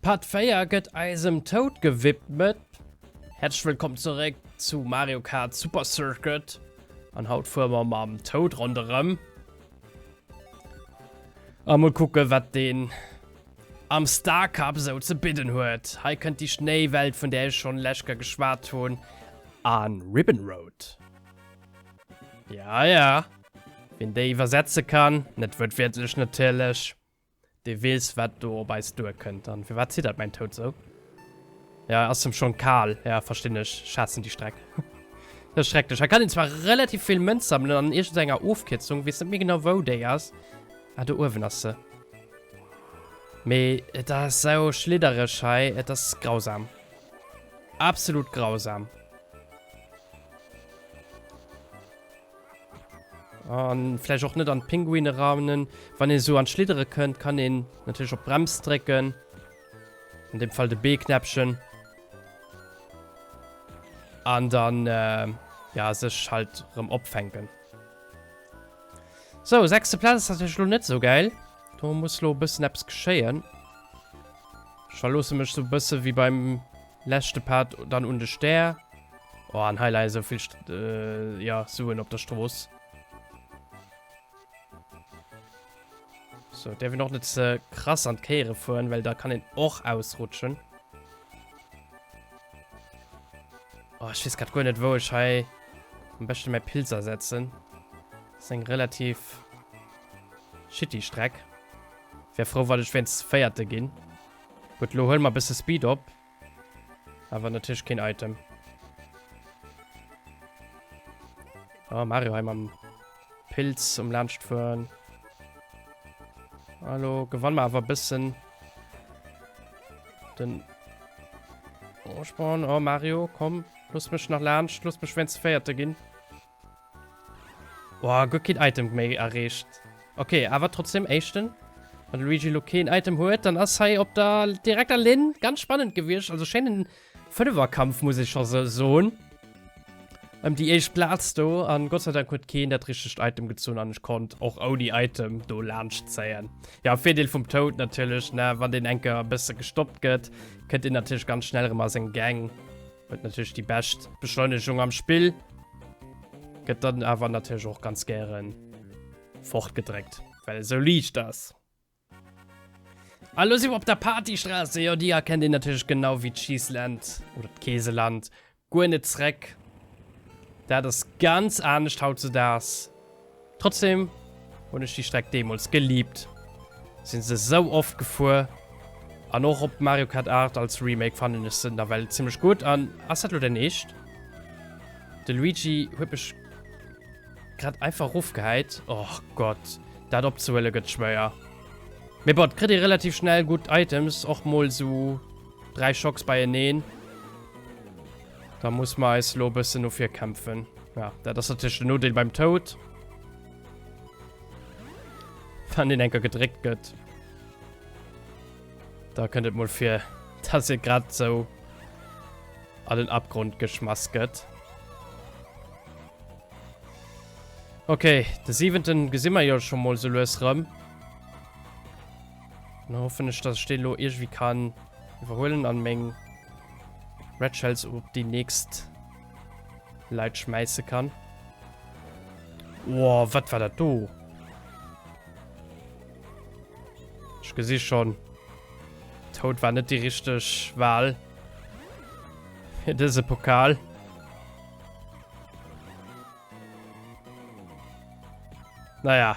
Part 4 gëtt eisem Toud gewidmet. Häerzlech wëllkomm zeréck zu Mario Kart Super Circuit. An haut fuere mer mam Toud ronderëm. A mol kucke wat deen am Star Cup esou ze bidden huet. Hei kënnt déi Schnéiwelt vun där ech schonn lech Kéier geschwat hunn. An Ribbon Road. Ja, ja. Wien déi iwwersetze kann, net wuertwiertlech natierlech, dee weess, wat do op eis duerkënnt. An firwat ziddert mäin Toad sou? Ja, ass em schonn kal. Ja, verstinn ech. Ech haassen déi Streck. Dat ass schrecklech. Hei kann een zwar relativ vill Mënz sammelen an iergendenger Ofkierzung, weess net méi genau, wou déi ass. Ah, do uewen ass se. Mee et ass sou schliddereg hei, et ass grausam. Absolut grausam. An vielleicht auch net an Pinguine raunen. Wann ihr so an Schliddere könnt, kann den natürlich op Brems drecken. In dem Fall de B-Knäppchen. An dann äh, ja sech halt rem opfänken. So, sechste Platz ist natürlich lo net so geil. Da muss lo bëssen Apps geschéien. Ech verloosse mech sou bësse wéi beim leschte Part dann un de Stär. Oh, an hei leie sou vill St äh, ja, Suen op der Strooss. So, däerf een och net ze krass an d'Kéiere fueren, well da kann een och ausrutschen. Oh, ech wees grad guer net wou ech hei am beschte mäi Pilz asetzen. Ass eng relativ shitty Streck. Wär frou wann ech wéinst véierte gin. Gudd lo huel mer bësse Speed op. Awer natierlech keen Item. Oh Mario hei mam Pilz um laanscht fueren. Ah lo gewann mer awer bëssen den Vorsprong. Oh Mario komm looss mech nach laanscht, looss mech wéinst véierte gin. Woah, guer keen Item méi erreecht. Ok, awer trotzdem éischten. Wann de Luigi lo keen Item huet, dann ass hei op der direkter Linn ganz spannend gewiescht. Also schéinen Fënneferkampf muss ech scho soen, ëm déi éischt Plaz do. An Gott sei Dank huet keen dat richtegt Item gezunn an ech konnt och ouni Item do laanscht zéien. Jo, Virdeel vum Toad natierlech, ne, wann deen eng Kéier e bësse gestoppt gëtt, kënnt deen natierlech ganz schnell erëm a seng Gäng. Huet natürlich die best Beschleunigung am Spiel. Gëtt dann aber natürlich auch ganz gären fortgedreckt, well so liicht ass. Hallo si op der Partystraße, jo Dir erkennt een natürlich genau wie d'Cheeseland oder d'Keeseland guer net zreck. Dat ass ganz anescht haut ze daags. Trotzdem hun ech déi Streck deemols geliebt, sin se sou oft gefuer an och op Mario Kart 8 als Remake fannen ech se nawell zimmlech gudd an ass dat lo dein Eescht? De Luigi huet mech grad einfach rofgehäit, och Gott dat opzehuelen gëtt schwéier, mee bon et kritt ee relativ schnell gudd Items, och mol sou 3 Schocks beieneen. Da muss mer eis lo bëssen no vir kämpfen. Ja, dat ass natierlech den Nodeel beim Toad. Wann den enker gedréckt gëtt. Da kënnt et mol fir, dass e grad sou an den Abgrund geschmass gëtt. Okay, de siwenten gesi mer jo scho mol sou lues rëm. Dann hoffen ech, dass ech den lo irgendwie kann iwwerhuelen an meng Red Shells op die nächst Leit schmeissen kann. Wow, wat war dat do? Ich gesi schon. Tod war net die richtig Wahl. Für diese Pokal. Naja.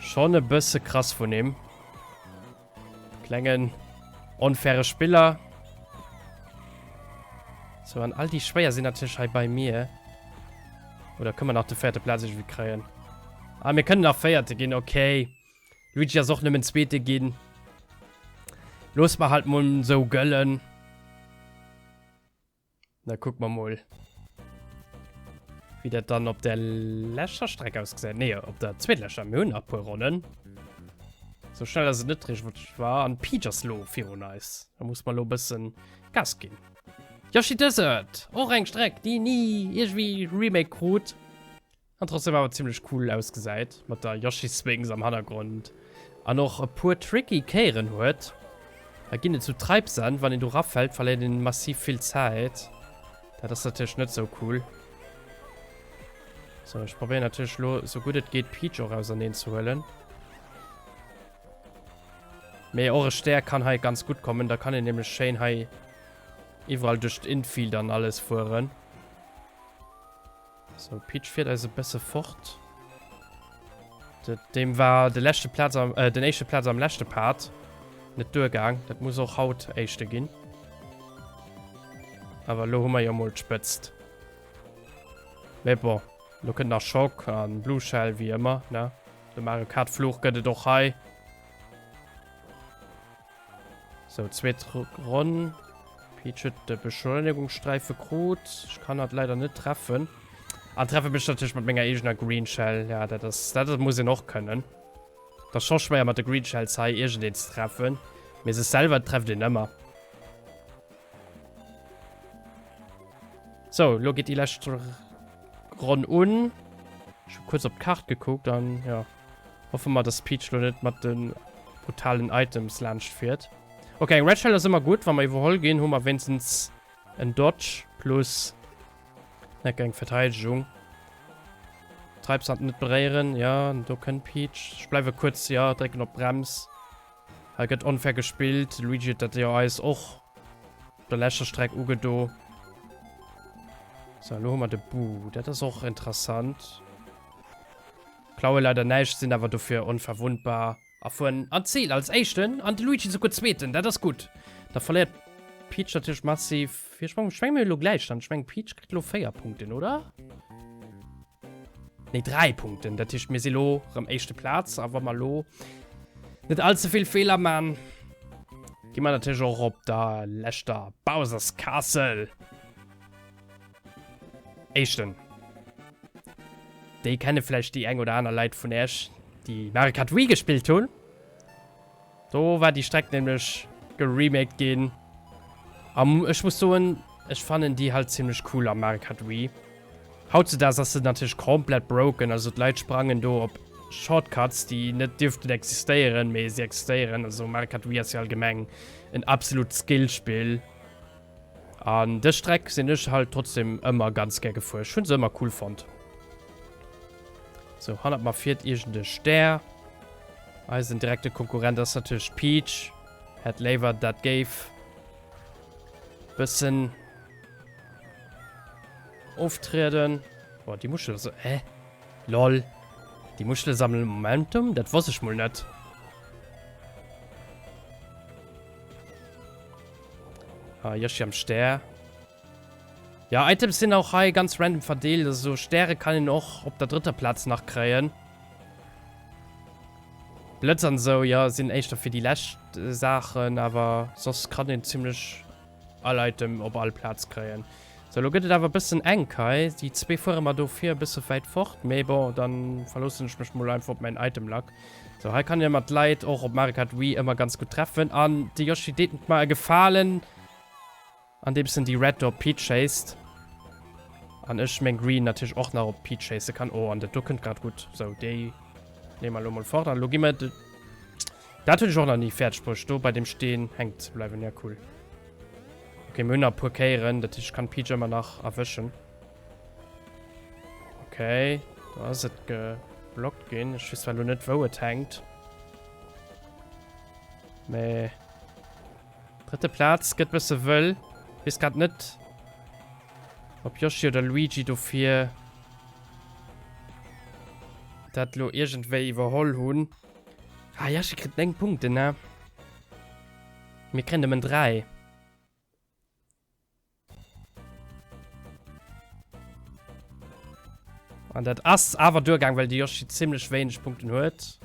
Schon e bësse krass vun him. Klengen, onfaire Spiller. So, an all die Schwéier sinn natürlich hei bei mir. Oder können wir nach den vierten Platz irgendwie kriegen? Ah, wir können nach Vierte gehen, okay. Luigi ist auch nicht mehr Zweite gehen. Los mal halt mal so göllen. Da kuck mer mol, wéi dat dann op der leschter Streck ausgesäit. Nee, op der zweetleschter. Mir hunn nach e puer Ronnen. Sou schnell ass et net richteg, wat ech war. An d'Peach ass lo virun eis. Da muss mer lo e bëssen Gas ginn. Yoshi Desert! Och eng Streck, déi ni iergendwéi remake krut. An trotzdem awer zimmlech cool ausgesäit, mat der Yoshi Sphinx am Hannergrond, an och e puer tricky Kéieren huet. Da ginn et sou Treibsand, wann een do rafält verléiert een massiv vill Zäit, dat ass natierlech net sou cool. Sou, ech probéieren natierlech elo sou gutt et geet Peach och auserneen ze huelen. Mee och e Stär kann hei ganz gutt kommen, da kann een nämlech schéin hei iwwerall duerch d'Infield an alles fueren. So, Peach fiert eis e bësse fort. Dem war de leschte Platz am, äh, den éischte Platz am leschte Part net duergaang. Dat muss och haut éischte ginn. Awer lo hu mer jo mol d'Spëtzt. Mee bon, lo kënnt nach Schock an Blue Shell wéi ëmmer, ne? De Mario Kart Fluch gëtt et och hei. So, zweet Ronn. Peach huet de Beschleunegungssträife krut. Ech kann dat leider net treffen. An treffe mech natierlech mat menger eegener Green Shell. Ja, dat ass, dat ass, muss een och kënnen. Dat ass scho schwéier mat de Green Shells hei iergendeen ze treffen. Mee sech selwer trefft een ëmmer. So, lo geet déi lescht Ronn un. Ech hu kuerz op d'Kart gekuckt an, jo. Hoffe mer, dass Peach lo net mat den brutalen Items laanscht fiert. Ok, eng Red Shell ass ëmmer gutt. Wa mer iwwerholl ginn, hu mer wéinstens en Dodge plus Necke, eng Verteidegung. Treibsand net beréieren. Ja, do kënnt Peach. Ech bleiwe kuerz, ja, drécken op d'Brems. Hei gëtt onfair gespillt. Luigi huet dat jo eis och op der leschter Streck ugedo. So, lo hu mer de Boo. Dat ass och interessant. Klaue leider näischt, sinn awer dofir onverwundbar a fueren an d'Zil als Éischten an de Luigi souguer Zweeten. Dat ass gutt. Da verléiert d'Peach natierlech massiv Virsprong. Ech menge mir hu elo Gläichstand. Ech mengen, d'Peach kritt elo 4 Punkten, oder? Nee, 3 Punkten. Dat heescht, mir si elo erëm éischte Plaz. A wa mer elo net all ze vill Feeler man, gi mer natierlech och op der leschter Bowser's Castle. Eischten. Déi kenne vläicht déi eng oder aner Leit vun Äerch, déi Mario Kart Wii gespillt hunn. Do war déi Streck nämlech geremaked ginn. Am ech muss soen, ech fannen déi halt zimmlech cool am Mario Kart Wii. Hautzedaags ass se natierlech komplett broken, also d'Leit sprangen do op Shortcuts, déi net dierften existéieren, mee se existéieren. Also Mario Kart Wii ass jo allgemeng en absolut Skill-Spill. An dës Streck sinn ech halt trotzdem ëmmer ganz gär gefuer. Ech hunn se ëmmer cool fonnt. So, hannert mer fiert iergend e Stär. Eisen direkte Konkurrent ass natierlech d'Peach. Hätt léiwer, dat géif bëssen oftrieden. Boah, déi Muschel ass... Hä? Lol. Déi Muschele sammelen Momentum? Dat wosst ech mol net. Ah, Yoshi am Stär. Ja, Items sind auch hei ganz random verdeelt. Also Stäre kann ihn auch op der dritter Platz nach kréien. Blitz an so, ja, sind eischter für die lescht äh, Sachen, aber sonst kann ihn ziemlich all Item op all Platz kréien. Sou, lo gëtt et awer e bëssen enk hei. Déi zwee fuere mer do vir e bësse wäit fort. Mee bon, da verloossen ech mech mol einfach op mäin Item-Luck. Sou, hei kann ee mer d'Leit och op Mario Kart Wii ëmmer ganz gutt treffen. An de Yoshi deet mer e Gefalen, andeems en déi Red do op d'Peach schéisst. An ech meng Green natierlech och nach op d'Peach schéisse kann. Oh, an dat do kënnt grad gutt. Sou, déi neeme mer lo mol fort. An elo gi mer de... Daat hun ech och nach nie färdeg bruecht do bei dem Steen hänken ze bleiwen, ja cool. Ok mir hun nach e puer Kéieren, dat heescht ech kann Peach emmer nach erwëschen. Ok do ass et geblockt gin, ech wees zwar lo net wou et hänkt. Mee drëtte Plaatz get bësse wëll. Wees grad net ob Yoshi oder Luigi dofir dat lo iergendwéi iwwerholl hun. Ah, Jasche kritt 9 Punkten, ne? Mir kréien nëmmen 3. An dat ass awer duergaang, well de Yoshi zimmlech wéineg Punkten huet.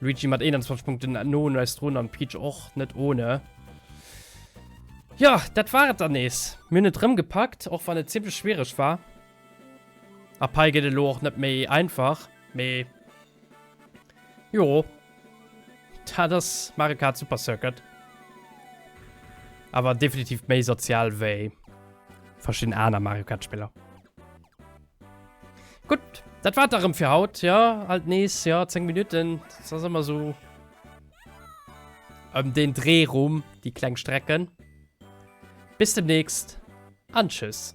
Luigi mat 21 Punkten no un eis drun an Peach och net ohne. Jo, dat war et dann nees. Mir hunn et rëm gepackt, och wann et zimmlech schwiereg war. A Pai gëtt elo och net méi einfach, mee. Jo. Dat ass Mario Kart Super Circuit. Awer definitiv méi sozial wéi verschidden aner Mario Kart Spiller. Gutt, dat war et da rëm fir haut, jo. Alt nees, jo, 10 Minutten, dat ass ëmmer esou ëm deen Dreh rum, déi kleng Strecken. Bis demnächst an tschüss.